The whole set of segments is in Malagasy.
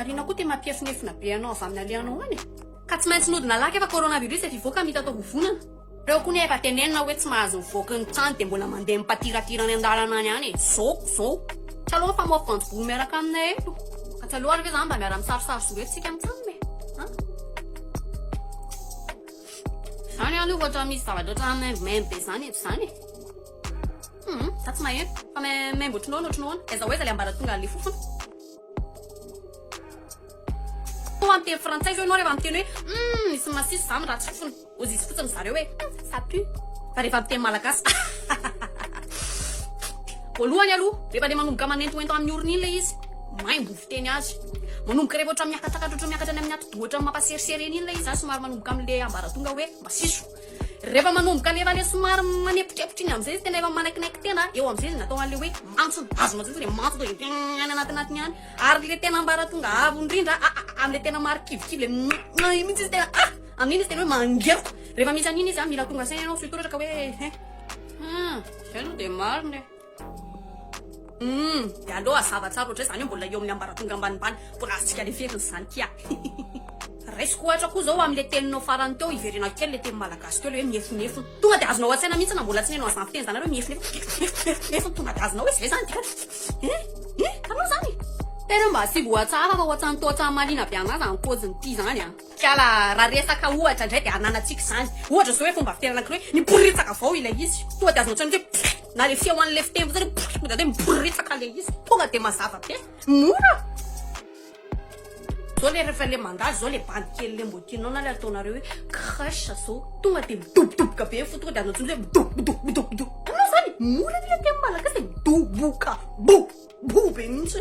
Ary inona koa ity mampiefinefina be anao avy amin'ny alehany ho any e? Ka tsy maintsy nody nalaky efa coronavirus e fivoaka mita atao vovonana. Reo koa ne efa tenenina oe tsy mahazo mivoaka ny trano de mbola mandeha mipatiratira any andalana any any e zô zô. Tsy aleo mifamoafy voanjobory miaraka aminay eto. Ka tsy aleo ary ve zany mba miara misarisary zo eto tsika mitsamina e an. Zany any ohatra misy zavatra ohatran'ny maimbo maimbo be zany eto zany e. Hum za tsy maheno fa maimbo otrinoana otrinoana aiza ho aiza le ambaratonga an'le fofona toa miteny frantsay zao ianao rehefa miteny hoe hum misy masisy za miratsy fofona ozy izy fotsiny zareo hoe ça pue fa rehefa miteny malagasy voalohany aloha rehefa le manomboka manentoento amin'ny orona iny le izy maimbo fiteny azy manomboka rehefa ohatran'ny miakatsakatra ohatran'ny miakatra any amin'ny atidoha ohatran'ny mampaserisery eny iny le izy a somary manomboka amin'le ambaratonga hoe masiso Rehefa manomboka le efa le somary manepotrepotry iny amizay izy tena efa manaikinaiky tena eo amizay izy natao anle hoe antso vazo matsy le mantso de tena any anatinatiny any ary le tena ambaratonga avo indrindra amle tena marikivikivy le mihh iny mintsy izy tena ah amin'iny izy tena hoe mangeroko rehefa misy an'iny izy a mila tonga saina ianao surtout raha ka hoe hein zay aloha de marina e Humm de aleo hazava tsara ohatrizay zany eo mbola eo amin'ny ambaratonga ambanimbany mbola azontsika leferina zany kia a! Raisiko ohatra koa zao amle teninao farany teo hiverenako kely le teny malagasy teo le hoe miefonefona tonga de azonao antsaina mihitsy na mbola tsy nenao azany fiteny zany hoe miefonefona tonga de azonao hoe zay zany dia eh eh aleo zany e! Tena mba asivo ohatsara raha ohatsan'itoa tsa mahaliana be anah zany pôziny ty zany a! Kiala, raha resaka ohatra indray dia ananantsika izany. Ohatra izao hoe fomba fiterana kry hoe miboritsaka avao ilay izy. Tonga dia azonao tsinoka hoe pff! na ilay feon'ilay fiteny fotsiny hoe pff! tonga dia hoe miboritsaka ilay izy. Tonga dia mazava be. Mora. Zao le rehefa le mandalo zao le bandy kely le mbo tianao na le ataonareo hoe crush zao tonga de midobodoboka be fo tonga de anao tsiny hoe midobodobodobodo anao zany mora ny le teny malagasy de midoboka bo bo be mihitsy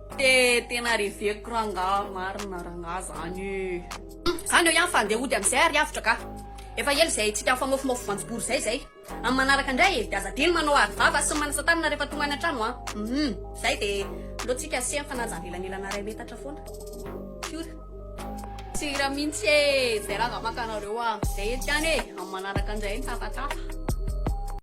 Te tena reveko rangaha marina rangaha zany ee. Zany eo ihany fa andeha hody amin'izay ary avotra ka. Efa ela izay tsy tafamofomof voanjobory izay izay. Amin'ny manaraka indray e, dia aza adino manao aro vava sy manasa tanana rehefa tonga any an-trano an. Humm. Izay dia alohantsika asehany fa na aza avelanelana iray metatra foana. Fiora. Tsy hira mihitsy ee. Izay rangaha maka anareo an. Izay eto ihany e, amin'ny manaraka indray ny tafatafa.